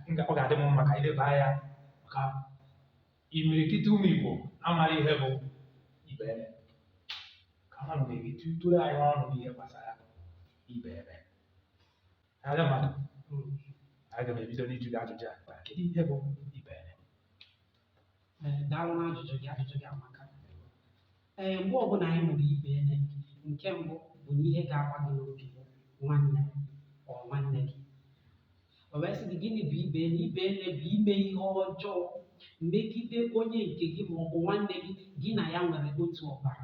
Nke ọ ga-adị m mma ka anyị leba anya maka imirikiti ụmụ Igbo amaghị ihe bụ ibe nne ka ha nọ na-eri tụrụ anyị ọnụ n'ihe gbasara ibe nne aga m aga m ebido n'ịjụ gị ajụjụ a kedu ihe bụ ibe nne Ee, daalụ na ajụjụ gị ajụjụ gị amaka ee mgbe ọbụla anyị nụrụ ibe nne nke mbụ bụ na ihe ga-agba gị n'obi bụ nwanne or nwanne gị o wee sị gị gịnị bụ ibe nne ibe nne bụ ime ihe ọjọọ megide onye nke gị ma ọ bụ nwanne gị gị na ya nwere otu ọbara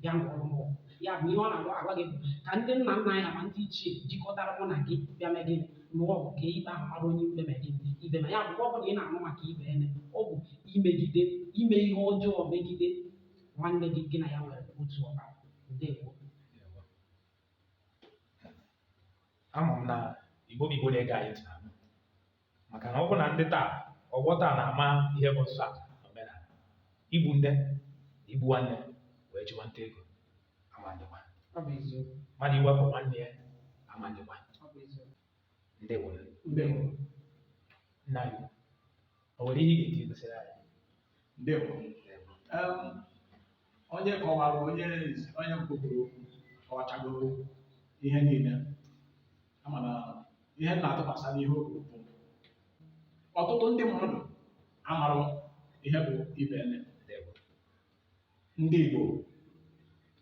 bịa lụọrọ m ọgụ ya bụ ihe ọ na-agwa gị bụ ka ndị nna nna anyị ma ndị ichie jikọtara mụ na gị bịa mee gịnị lụọ ọgụ ka ikpe ahụ mara onye ikpe ma gị ikpe ma ya mgbe ọ bụla ị na-anụ maka ibe nne ọ bụ imegide ime ihe ọjọọ megide nwanne gị gị na ya nwere otu ọbara ndewo ama m na Igbo bụ Igbo na-ege anyị ntị na maka na ọ bụ na ndị taa ọgbọ taa na-ama ihe bụ nsọ ala na omenala Igbo ndị igbu nwanne wee chụwa nta ego ama adịkwa Ọ bụ eziokwu. mmadụ ịwakpo nwanne ya ama adịkwa Ọ bụ eziokwu. ndị were Ndewo. nna gị o nwere ihe ị ga-eji gosiri anyị Ndewo. Em, onye kọwara onye izi onye mbụ kwuru okwu kọwachagoro ihe niile amana ihe m na-atụkwasị n'ihe o kwuru bụ ọtụtụ ndị mmadụ amarụ ihe bụ ibe nne ndị Igbo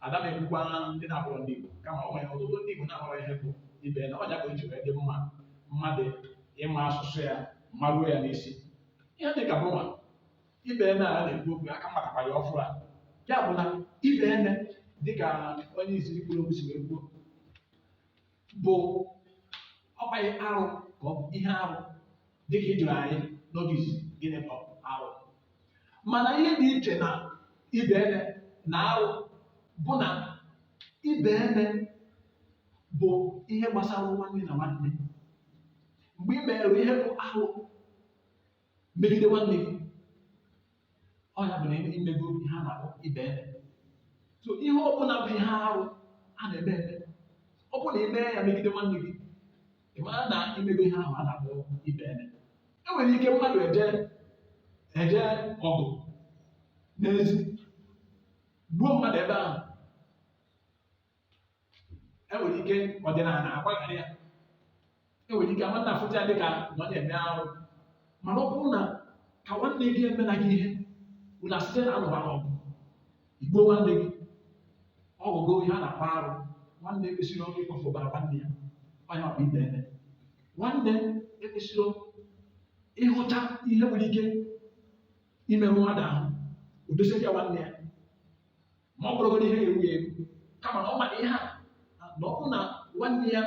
ada m ekwukwa ndị na-abụrụ ndị Igbo kama ọ nwere ọtụtụ ndị Igbo na-amarụ ihe bụ ibe nne ọ ya ka o ji wee dị mma mmadụ ịma asụsụ ya maruo ya n'isi ihe dị ka bụwa ibe nne a na-ekwu okwu ka a matakwa ya ọfụma ya bụ na ibe nne dịka onye izizi kwuru okwu si wee kwuo bụ ọkwa ihe arụ ka ọ bụ ihe arụ dịka ị jụrụ anyị n'oge izizi gịnị bụ arụ mana ihe dị iche na ibe nne na arụ bụ na ibe nne bụ ihe gbasara nwanne na nwanne mgbe ị mere ihe bụ arụ megide nwanne gị ọ ya bụ na i mego ihe a na-akpọ ibe nne so ihe ọ bụla bụ ihe arụ a na-eme eme ọ bụrụ na ị mee ya megide nwanne gị ị mara na i mego ihe ahụ a na-akpọ ibe nne e nwere ike mmadụ eje eje ọgụ n'ezi gbuo mmadụ ebe ahụ e nwere ike ọdịnala na-agbaghara ya e nwere ike nwanne afụta ya dịka na ọ na-eme arụ mana ọ bụrụ na ka nwanne gị emena gị ihe unu esite na anụba ọgụ i gbuo nwanne gị ọ bụgo ihe a na-akpọ arụ nwanne ekwesịrọ ịkwafu ọbara nwanne ya onye ọ bụ ibenne nwanne ekwesịrọ ịhụta ihe nwere ike imerụ mmadụ ahụ o dozie ya nwanne ya ma ọ bụrụgodị ihe ga-egbu ya egbu kama na ọ ma ihe a na ọ bụrụ na nwanne ya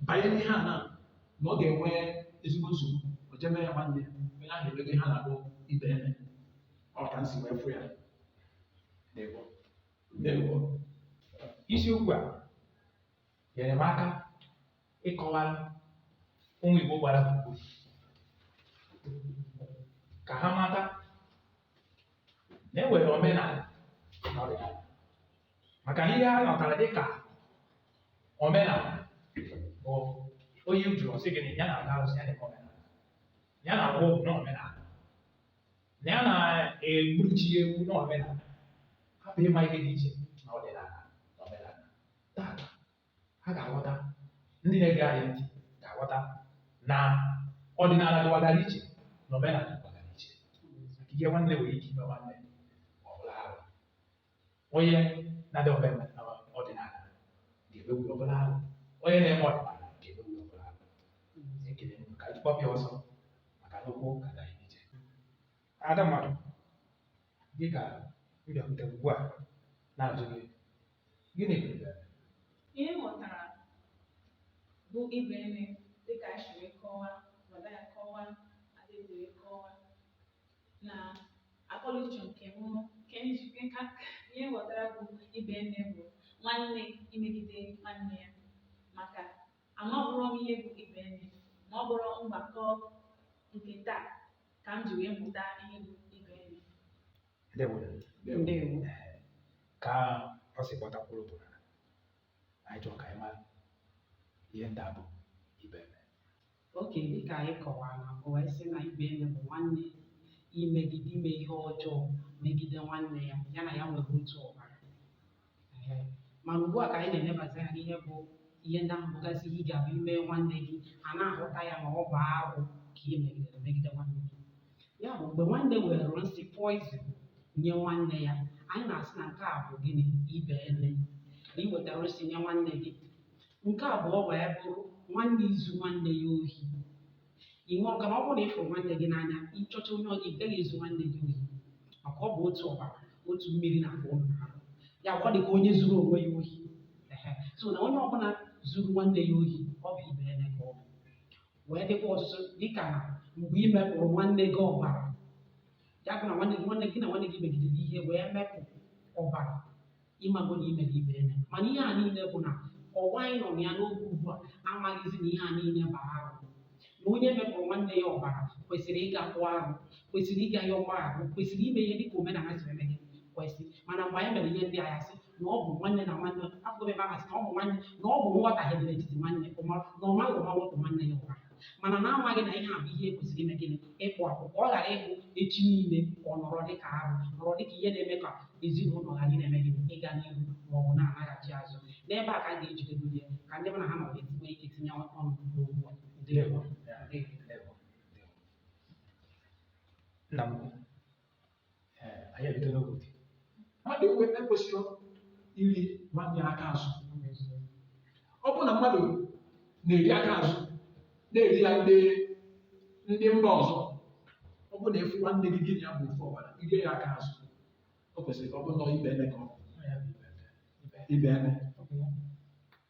banye n'ihe a na na ọ ga-enwe ezigbo nsogbu o jee mee ya nwanne ya onye ahụ emego ihe a na-akpọ ibenne ọ ka m si wee fụ ya ndewo ndewo isiokwu a nyere m aka ịkọwara ụmụ Igbo gbara gburugburu ka ha mata na e nwere omenala na ọdịnala maka na ihe a natara dịka omenala bụ onye ị jụrụ ọ sị gị na ya na-agọ arụsị ya na-eme omenala ya na-agba ọgwụ na omenala na ya na-egbuchi ewu na omenala hapụ ịma ihe dị iche na ọdịnala na omenala tata ha ga-aghọta ndị na-ege anyị ntị ga-aghọta na ọdịnala dịwagara iche na omenala dịwagara iche maka ihe nwanne nwere ike ime nwanne ọ bụrụ arụ onye na-adị omenala ọdịnala ga-emegbu ọ bụrụ arụ onye na-eme ọdịnala ga-emegbu ọ bụrụ arụ ekele m ka anyị kpọpịa ọsọ maka na okwu ka anyị ije ada mmadụ dịka m bịakwute ugbu a na-ajụ gị Gịnị bụ ibe eme? Ihe m ghọtara bụ ibenne dịka anyị si wee kọwaa wada ya kọwaa adịghị wee kọwaa na akọnuche nke m nke m ji nke ka ihe m ghọtara bụ ibenne bụ nwanne imegide nwanne ya maka amaburọ m ihe bụ ibenne ma ọ bụrọ mgbakọ nke taa ka m ji wee mụta ihe bụ ibenne ndewo ndewo ka ọ si gbatakwuru bụ na anyị chọrọ ka anyị mara ihe ndị a bụ ibenne okay dịka anyị kọwara na mbụ anyị sị na ibenne bụ nwanne imegide ime ihe ọjọọ megide nwanne ya ya na ya nwere otu ọbara Ehe. mana ugbu a ka anyị na-elebazi anya n'ihe bụ ihe ndị ahụ bụgasị ihe ọ ga-abụ i mee nwanne gị a na-ahụta ya na ọ bụ arụ ka i megidere megide nwanne gị ya bụ mgbe nwanne were nsị poison nye nwanne ya anyị na-asị na nke a bụ gịnị ibenne na i wetara nsị nye nwanne gị nke abụọ wee bụrụ nwanne izu nwanne ya ohi ị nwụrụ ka na ọ bụrụ na ị fụrụ nwanne gị n'anya ị chọta onye ọ- ị gaghị ezu nwanne gị ohi maka ọ bụ otu ọbara otu mmiri na-agba n'ahụ ya bụ ọ dị ka onye zuru onwe ya ohi Ehe. so na onye ọbụla zuru nwanne ya ohi ọ bụ ibenne ka ọ bụ wee dịkwa ọtụtụ dịka na mgbe ị mepụrụ nwanne gị ọbara ya bụ na nwanne gị nwanne gị na nwanne gị megidere ihe wee mepụ ọbara ị mago na i mere ibenne mana ihe a niile bụ na ụwa anyị nọ na ya n'oge ugbu a amaghịzi na ihe a niile bụ arụ na onye mepụrụ nwanne ya ọbara kwesịrị ịga kpụọ arụ kwesịrị ịga yọọ mgbaghara kwesịrị ime ihe dịka omenala siri eme ihe kwesị mana mgbe anyị mere ihe ndị a a ga-asị na ọ bụ nwanne na nwanne afọ ebe ahụ sị na ọ bụ nwanne na ọ bụ nghọtahie dị n'etiti nwanne ụma na ọ maghị ụma mepụ nwanne ya ọbara mana na amaghị na ihe a bụ ihe kwesịrị ime gịnị ịkpụ arụ ka ọ ghara ịbụ echi niile ka ọ nọrọ dịka arụ nọrọ dịka ihe na-eme ka ezinụlọ ghara ị na-eme gịnị ịga n'ihu ma ọ bụ na-anaghachi azụ n'ebe a ka m ga-ejidegodu ya ka ndị mụ na ha nọ nwee ike tinye ọnụ n'okwu ndewo ndewo nna m anyị ebido n'oge mmadụ enwe ekwesịrọ iri nwanne ya aka azụ ọ bụrụ na mmadụ na-eri aka azụ na-eri ya ndị ndị mba ọzọ ọ bụrụ na ị fụ nwanne gị gị na ya bụ ofu ọbara iri ya aka azụ o kwesịrị ka ọ bụrụ na ọ ibenne ka ọ bụ ibenne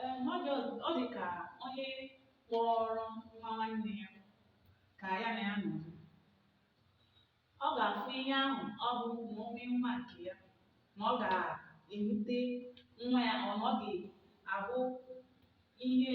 Ee, ma ọ dị ọ dị ka onye kpọrọ nwa nwanne ya ka ya na ya nọdụ. Ọ ga-afụ ihe ahụ ọ bụ na o mee nwa nke ya na ọ ga-ewute nwa ya ọ na ọ ga-abụ ihe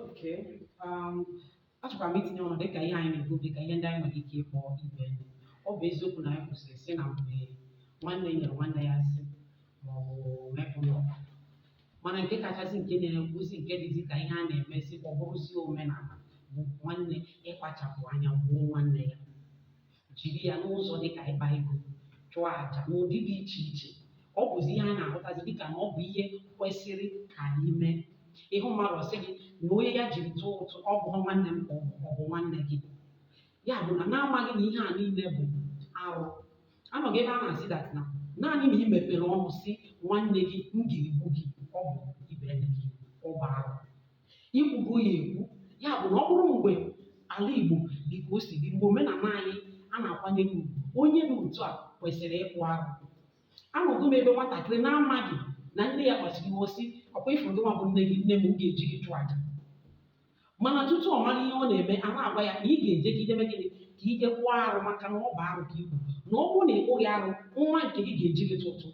Okay. Um, achọkwara m itinye ọnụ dịka ihe anyị na-ekwu dịka ihe ndị anyị nwere ike ịkpọ ibenne. ọ bụ eziokwu na anyị kwusịrị sị na mgbe nwanne nyere nwanne ya nsị maọbụ mepụ ya ọbara mana nke kachasị nke na-ewuzi nke dịzi ka ihe a na-emezi ka ọ bụrụzie omenala bụ nwanne ịkpachapụ anya gbuo nwanne ya jiri ya n'ụzọ dị ka ịkpa ego chụọ aja n'ụdị dị iche iche ọ bụzi ihe a na-ahụtazi dịka na ọ bụ ihe kwesịrị ka anyị mee ị hụ mmadụ ọ sị gị na onye ya jiri tụọ ụtụ ọ bụ nwanne m ka ọ bụ ọ bụ nwanne gị ya bụ na na-amaghị na ihe a niile bụ arụ anọgo m ebe a na-asị that na naanị na i mepere ọnụ sị nwanne gị m ga-egbu gị ọ bụ ibenne ọ bụ arụ i kwugo ya ekwu ya bụ na ọ bụrụ mgbe ala Igbo dị ka o si dị mgbe omenala anyị a na-akwanyere ugwu onye dị otu a kwesịrị ịkpụ arụ anọgo m ebe nwatakịrị na-amaghị na nne ya kpasuru iwe sị ọ kwa ị fụrụ gị nwa bụ nne gị nne m ga-eji gị chụọ aja mana tutu ọ mara ihe ọ na-eme a na-agwa ya na ị ga-eje ime gịnị ka ị jee kpụọ arụ maka na ọ bụ arụ ka i kwuru na ọ bụrụ na ị kpụghị arụ nwa nke gị ga-eji gị tụọ ụtụ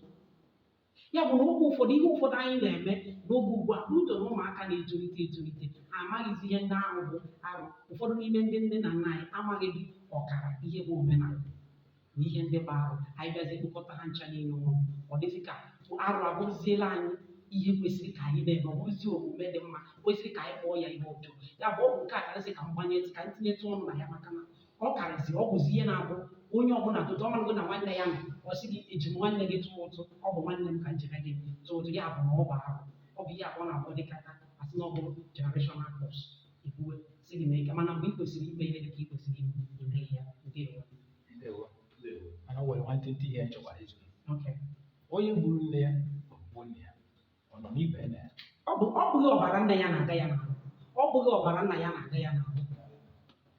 ya bụ na oge ụfọdụ ihe ụfọdụ anyị na-eme n'oge ugbu a n'uto na ụmụaka na-etolite etolite ha amaghịzi ihe ndị ahụ bụ arụ ụfọdụ n'ime ndị nne na nna anyị amaghịdị ọkara ihe bụ omenala na ihe ndị bụ arụ anyị bịazi kpokọta ha ncha niile ọnụ ọ dịzie ka arụ abụrụziela anyị ihe kwesịrị ka anyị na-eme ọ bụrụzi omume dị mma kwesịrị ka anyị kpọọ ya ihe ọjọọ ya bụ ọ bụ nke a ka m sị ka m gbanyetụ ka m tinyetụ ọnụ na ya maka na ọ karịsị ọ bụzi ihe na-abụ onye ọbụla tụtụ ọ marago na nwanne ya nọ ọ sị gị eji m nwanne gị tụọ ụtụ ọ bụ nwanne m ka njebe gị tụọ ụtụ ya bụ na ọ bụ arụ ọ bụ ihe abụọ na abụọ dịka a ga-asị na ọ bụ generational curse ekwuwe sị gị mee nke mana mgbe ị kwesịrị ikpe ihe dịka ị kwesịrị ime ime ya nke ewe Ndewo. Mana o nwere nwantịntị ihe m chọkwara ịjụ. okay onye gburu nne ya bụ nne ya ọ nọ n'ibe nne ya ọ bụ ọ bụghị ọbara nne ya na-aga ya n'ahụ ọ bụghị ọbara nna ya na-aga ya n'ahụ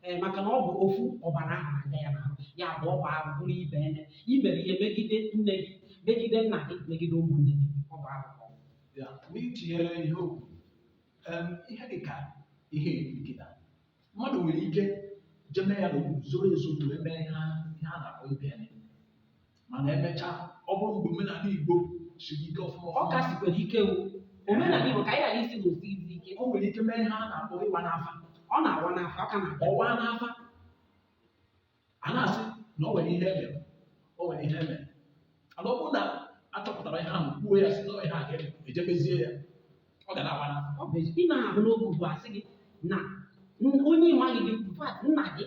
ee maka na ọ bụ ofu ọbara ahụ na-aga ya n'ahụ ya bụ ọ bụ arụ bụrụ ibe nne i mere ihe megide nne gị megide nna gị megide ụmụnne gị ọ bụ arụ ka ọ bụ. ya na i tinyere ihe okwu em, ihe dị ka ihe iri kịta mmadụ nwere ike jee mee ya n'okpuru zoro ezo bụ ebe ihe a ihe a na-akpọ ibe nne mana emechaa ọ bụrụ mgbe omenala igbo siri ike ọfụma ọ ka sikwara ike wu omenala igbo ka anyị ghara ịsị na o sighizi ike o nwere ike mee ihe a na-akpọ ịwa n'afa ọ na-awa n'afa ọ ka na-awa n'afa a na-asị na o nwere ihe e mere o nwere ihe e mere mana ọ bụrụ na a chọpụtara ihe ahụ kwuo ya sị na ihe a ga-eme e jee mezie ya ọ ga na-awa n'afa ọ bụ ezi- ị na-ahụ n'oge ugbu a sị gị na n- onye ị maghịdị in fact, nna gị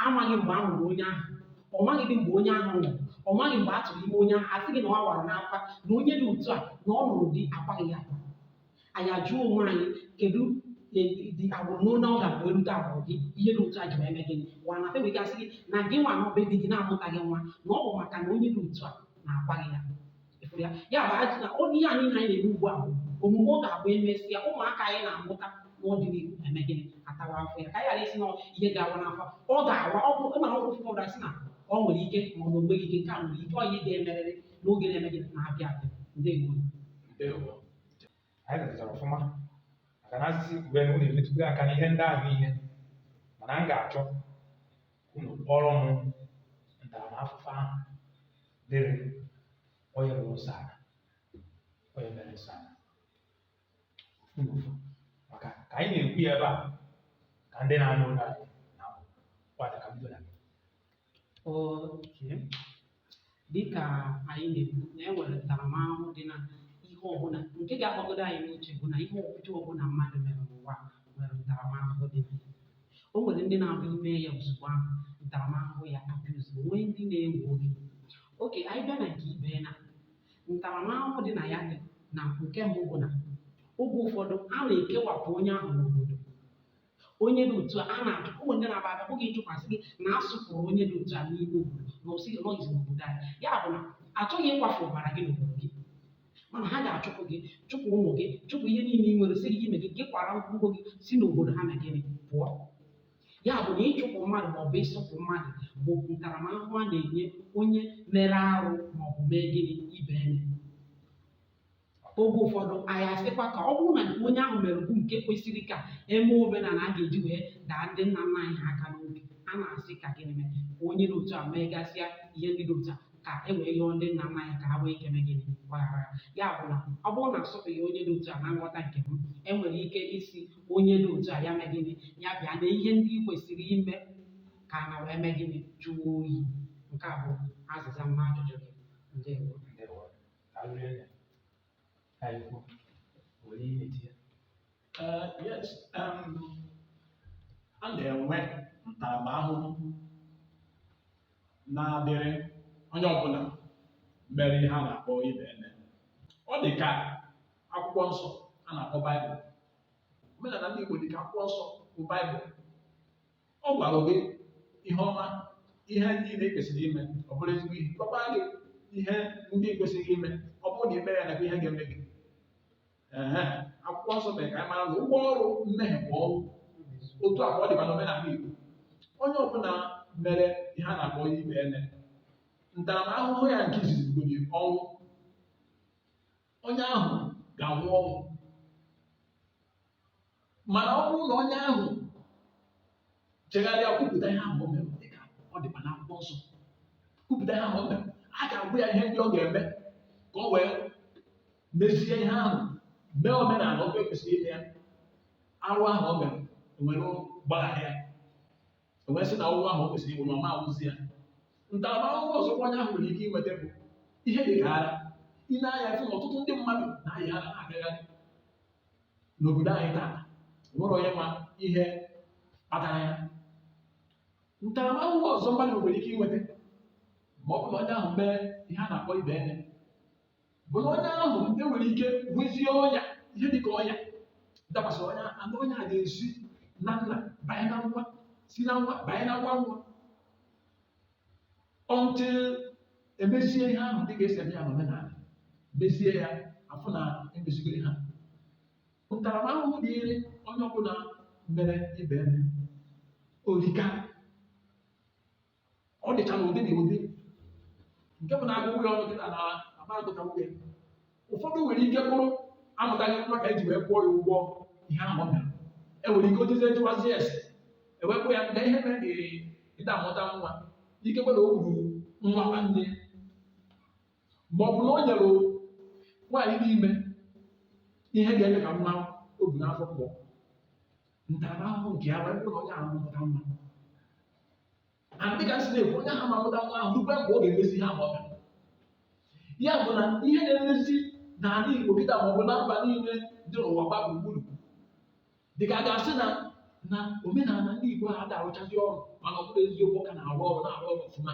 amaghị mgbe a mụrụ onye ahụ ọ maghịdị mgbe onye ahụ nwụrụ ọ maghị mgbe a tụrụ ime onye ahụ a sị gị na ọ wara n'afa na onye dị otu a na ọ nwụrụ di akwaghị ya akwa anyị ajụọ onwe anyị kedụdị agbụrụ n'ụlọ ọ ga-abụ erute agbụrụ gị ihe dị otu a ji wee mee gịnị waa n'afa e wee ga sị gị na gị nwa nọ be di gị na-amụtaghị nwa na ọ bụ maka na onye dị otu a na akwaghị ya Ị fụrụ ya ya bụ ajụ na ọ ihe anyị na anyị na-eme ugbu a bụ omume ọ ga-abụ emesịa ụmụaka anyị na-amụta n'ọdịnihu eme gịnị atawa afụfụ ya ka anyị ghara ịsị na ihe ga-awa n'afa ọ ga-awa ọ bụ ịmara ọgwụ ụfọdụ ụra sị na ọ nwere ike ma ọ bụ onweghị ike nke a nwere ike ọ ihe ga-emerịrị n'oge na-eme gịnị na-abịa abịa ndewo Ndewo. anyị letachara ọfụma maka na a sị sị kwube na unu emetụgo aka n'ihe ndị ahụ niile mana m ga-achọ unu kọọrọ m ntaramahụhụ ahụ dịrị onye rụrụ nsọ ala onye mere nsọ ala ofu na ofu maka ka anyị na-ekwu ya ebe a ka ndị na-anụ olu anyị na-aghọtakwa ka e bido na gị Okay. Dịka anyị na-ekwu na e nwere ntaramahụhụ dị na ihe ọbụla nke ga-agbagodo anyị n'uche bụ na ihe ọjọọ ọbụla mmadụ mere n'ụwa a nwere ntaramahụhụ dị na ya. O nwere ndị na-abụ ime ya ozugbo ahụ ntaramahụhụ ya abịa ozugbo nwee ndị na-ewe oge. Okay, anyị bịa na nke ibeene ntaramahụhụ dị na ya dị na nke mbụ bụ na oge ụfọdụ a na-ekewapụ onye ahụ n'obodo onye dị otu a a na-ajụ ụmụ ndị na-aba aba bụghị ịjụkwasị gị na asụpụrụ onye dị otu a n'ime obodo na asị gị nọghịzi n'obodo anyị ya bụ na achọghị ịkwafu ọbara gị n'obodo gị mana ha ga-achụpụ gị chụpụ ụmụ gị chụpụ ihe niile ị nwere sị gị mee gịnị kwara ngwongwo gị si n'obodo ha mee gịnị pụọ ya bụ na ịchụpụ mmadụ maọbụ ịsụpụ mmadụ bụ ntaramahụhụ a na-enye onye mere arụ maọbụ mee gịnị ibeene oge ụfọdụ anyị asịkwa ka ọ bụrụ na nke onye ahụ mere bụ nke kwesịrị ka eme omenala a ga-eji wee daa ndị nna nna anyị ha aka n'obi a na-asị ka gịnị mee ka onye dị otu a megasịa ihe ndị dị otu a ka e wee yọọ ndị nna nna anyị ka ha nwee ike mee gịnị gbaghara ya bụ na ọ bụrụ na asụpụghị onye dị otu a na nghọta nke m enwere ike ịsị onye dị otu a ya mee gịnị ya bịa na ihe ndị ị kwesịrị ime ka ana wee mee gịnị jụọ oyi nke a bụ azịza m n'ajụjụ gị ndewo arịrịọ ya ka anyị kwuo were ihe na-eti ya Eh, yes, um, a na-enwe ntaramahụhụ na-adịrị onye ọbụla mere ihe a na-akpọ ibeene. Ọ dị ka akwụkwọ nsọ a na-akpọ Baịbụl. Omenala ndị Igbo dị ka akwụkwọ nsọ bụ Baịbụl. ọ gwara gị ihe ọma ihe ndị i kwesịrị ime ọ bụrụ ezigbo ihe gwakwa gị ihe ndị i kwesịghị ime ọ bụrụ na ime ya nakwa ihe ga-eme gị Ehe, akwụkwọ nsọ mere ka anyị mara na ụgwọ ọrụ mmehie bụ ọnwụ otu a ka ọ dị ma n'omenala Igbo onye ọbụla mere ihe a na-akpọ ibeene ntaramahụhụ ya nke izizi bụ ọnwụ onye ahụ ga-anwụ ọnwụ mana ọ bụrụ na onye ahụ chegharịa kwupụta ihe ahụ o mere dịka ọ dịkwa n'akwụkwọ nsọ kwupụta ihe ahụ o mere a ga-agwa ya ihe ndị ọ ga-eme ka o wee mezie ihe ahụ mee omenala otu ekwesịrị ime ya arụ ahụ o mere e were gbaghara ya E wee sị na ọnwụ ahụ o kwesịrị ịnwụ na ọ ma anwụzi ya. Ntaramahụhụ ọzọkwa onye ahụ nwere ike inweta bụ ihe dị ka ara. I nee anya fụ na ọtụtụ ndị mmadụ na-ayị ara na-agagharị n'obodo anyị taa. O nwere onye ma ihe kpatara ya. Ntaramahụhụ ọzọ mmadụ nwere ike inweta ma ọ bụrụ na onye ahụ mee ihe a na-akpọ ibeene. bụ na onye ahụ enwere ike nwezie ọnya ihe dịka ọnya dakwasịrị onye anụ ọnya ga-esi na nna banye na nwa si na nwa banye na nwa nwa until emezie ihe ahụ dịka esi eme ya n'omenala mezie ya afụ na emezigoro ha ntaramahụhụ dịịrị onye ọbụla mere ibenne erika ọ dịcha na ụdị na ụdị nke bụ na a gụba ya ọnụ gị na ama agụta n'oge ụfọdụ nwere ike bụrụ amụtaghị nwa ka eji wee kwụọ ya ụgwọ ihe ahụ ọ bịara enwere ike o tezie jụwazie ese e wee kwuo ya na ihe mere na ị da-amụta nwa ike kwere o gburu nwa nwanne ya ma ọ bụ na o nyere nwaanyị dị ime ihe ga-eme ka nwa o bu n'afọ pụọ ntaramahụhụ nke ya wee bụrụ na onye ahụ ama amụta nwa and dịka si na-ekwu onye ahụ ama amụta nwa ahụ rukwe mgbe ọ ga-emezi ihe ahụ ọ bịara ya bụ na ihe na-emezi n'ala Igbo kịta ma ọ bụ na mba niile dị n'ụwa gba gburugburu dịka a ga-asị na na omenala ndị Igbo ha da-arụchazi ọrụ mana ọ bụrụ eziokwu ọ ka na-arụ ọrụ na-arụ ọrụ ọfụma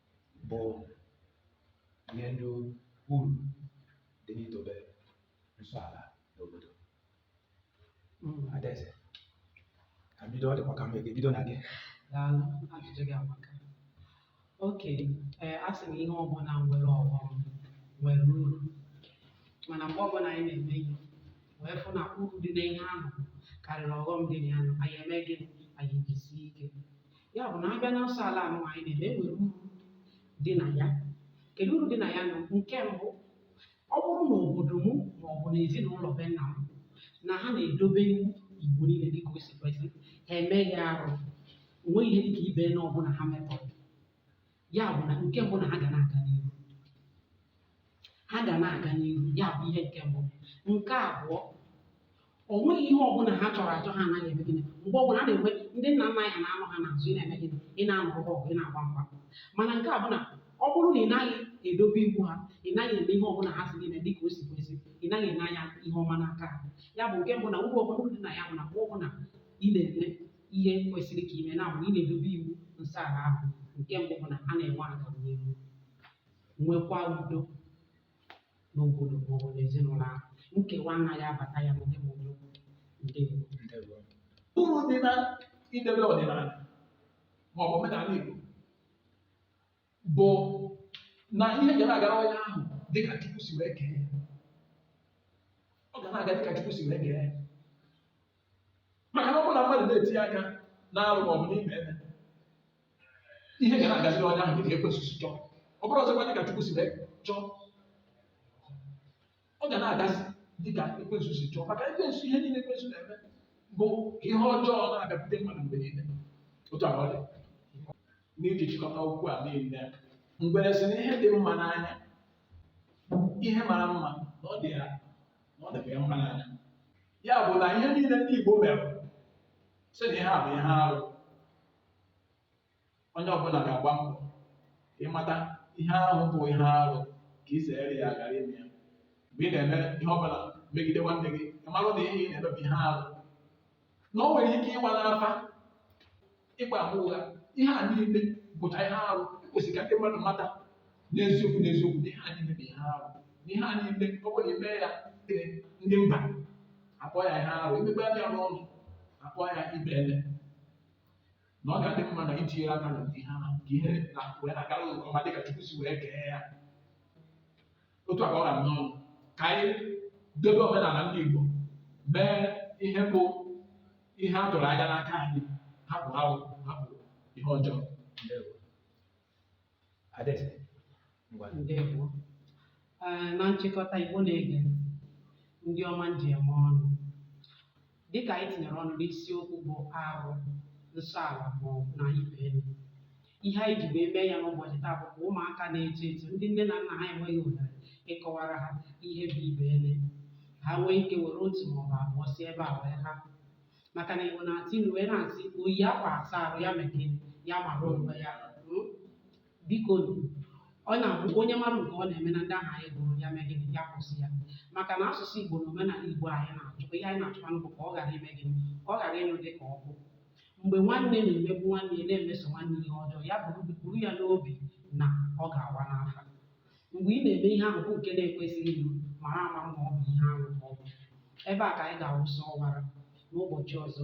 bụ ihe ndị uru dị n'idobe nsọ ala n'obodo hmm, adaeze ka bido ọ dịkwa ka m ga-ebido na gị daalụ ajụjụ gị amaka okay ee asị m ihe ọbụla nwere ọghọm nwere uru mana mgbe ọbụla anyị na-eme ihe wee fụ na uru dị n'ihe ahụ karịrị ọghọm dị na ya anyị eme gịnị anyị jisie ike ya bụ na a bịa na nsọ ala anụ anyị na-eme enwere uru dị na ya kedu uru dị na ya na nke mbụ ọ bụrụ na obodo m ma ọ bụ na ezinụlọ be nna m na ha na-edobe iwu Igbo niile dịka o si kwesị ha emeghị arụ onweghị ihe dịka ibenne ọbụla ha mepụrụ ya bụ na nke mbụ na ha ga na-aga n'ihu ha ga na-aga n'ihu ya bụ ihe nke mbụ nke abụọ o nweghị ihe ọbụla ha chọrọ achọ ha anaghị eme gịnị mgbe ọbụla a na-enwe ndị nna nna anyị na-anọ ha n'azụ ị na-eme gịnị ị na-anụ ọgụ ọgụ ị na-agba mgba mana nke a bụ na ọ bụrụ na ị naghị edobe iwu ha ị naghị eme ihe ọbụla ha si gị mee dịka o si kwesị ị naghị ene anya ihe ọma n'aka ha ya bụ nke mbụ na uru ọbụla dị na ya bụ na mgbe ọbụla ị na-eme ihe kwesịrị ka i mee ya bụ na ị na-edobe iwu nsọ ala ahụ nke mbụ bụ na a na-enwe agamnihu nwekwa udo n'obodo maọbụ n'ezinụlọ ahụ nkewa anaghị abata ya n'ụdị ma ụdị okwu ndewo Ndewo. uru dị na idebe ọdịnala ma ọ bụ omenala Igbo bụ na ihe ga na-agara onye ahụ dịka Chukwu si wee kee ya ọ ga na-aga dịka Chukwu si wee kee ya maka na ọ bụrụ na mmadụ na-etinye aka n'arụ ma ọ bụ n'ibeene ihe ga na-agaziri onye ahụ dịka ekwensu si chọọ ọ bụrọzikwa dịka Chukwu si wee chọọ ọ ga na-agazi dịka ekwensu si chọọ maka ekwensu ihe niile ekwensu na-eme bụ ka ihe ọjọọ na-abịakwute mmadụ mgbe niile otu ahụ ọ dị n'iji chịkọta okwu a niile m were sị na ihe dị mma n'anya ihe mara mma na ọ dị ya na ọ dịkwa ya mma n'anya ya bụ na ihe niile ndị Igbo mere sị na ihe a bụ ihe arụ onye ọbụla ga-agba mbọ ka ị mata ihe ahụ bụ ihe arụ ka i zere ya ghara ime ya mgbe ị na-eme ihe ọbụla megide nwanne gị ị marụ na ihe ị na-eme bụ ihe arụ na o nwere ike ịwa n'afa ịgba ama ụgha ihe a niile bụcha ihe arụ e kwesịrị ka ndị mmadụ mata n'eziokwu n'eziokwu na ihe a niile bụ ihe arụ na ihe a niile ọ bụrụ na i mee ya ee, ndị mba akpọọ ya ihe arụ i mee be anyị nọ akpọọ ya ibeene na ọ ga-adị mma na i tinyeghị aka na ihe ahụ ka ihe na wee na-agara ụzọ ọma dịka Chukwu si wee kee ya otu a ka ọ ha m n'ọnụ ka anyị dobe omenala ndị Igbo mee ihe bụ ihe a tụrụ anya n'aka anyị hapụ ha hapụ ihe ọjọọ Ndewo. Adaeze, ngwa. Ndewo. Ee, na nchịkọta Igbo na-ege ntị, ndị ọma m ji eme ọnụ Dịka anyị tinyere ọnụ n'isiokwu bụ arụ, nsọ ala maọbụ na ibeene, ihe anyị ji wee mee ya n'ụbọchị taa bụ ka ụmụaka na-eto eto ndị nne na nna ha enweghị ohere ịkọwara ha ihe bụ ibeene, ha nwee ike were otu maọbụ abụọ si ebe a wee ha. Maka na Igbo na-atụ ilu wee na-asị oyi akwa asa arụ ya mee gịnị? Ya mara onwe ya. biko nụ ọ na-abụ onye mara nke ọ na-eme na ndị ahụ anyị gụrụ ya mee gịnị ya kwụsị ya maka na asụsụ Igbo na omenala Igbo anyị na-achọkwa ihe anyị na-achọkwanụ bụ ka ọ ghara ime gịnị ka ọ ghara ịnyụ dị ka ọkụ mgbe nwanne na-emegbu nwanne ya na-emeso nwanne ihe ọjọọ ya buru buru ya n'obi na ọ ga-awa n'afa mgbe ị na-eme ihe ahụ bụ nke na-ekwesịghị ime mara ama na ọ bụ ihe arụ ọ bụ ebe a ka anyị ga-awụsa ọwara n'ụbọchị ọzọ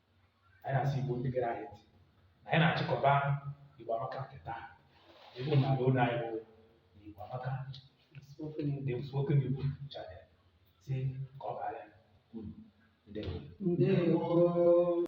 anyị na-asị Igbo ndị gere anyị ntị na anyị na-achịkọba Igbo Amaka nke taa ebe a na-ala ụlọ anyị bụ Igbo Amaka ndị spoken Igbo channel sịkwara unu ndewo Ndewo.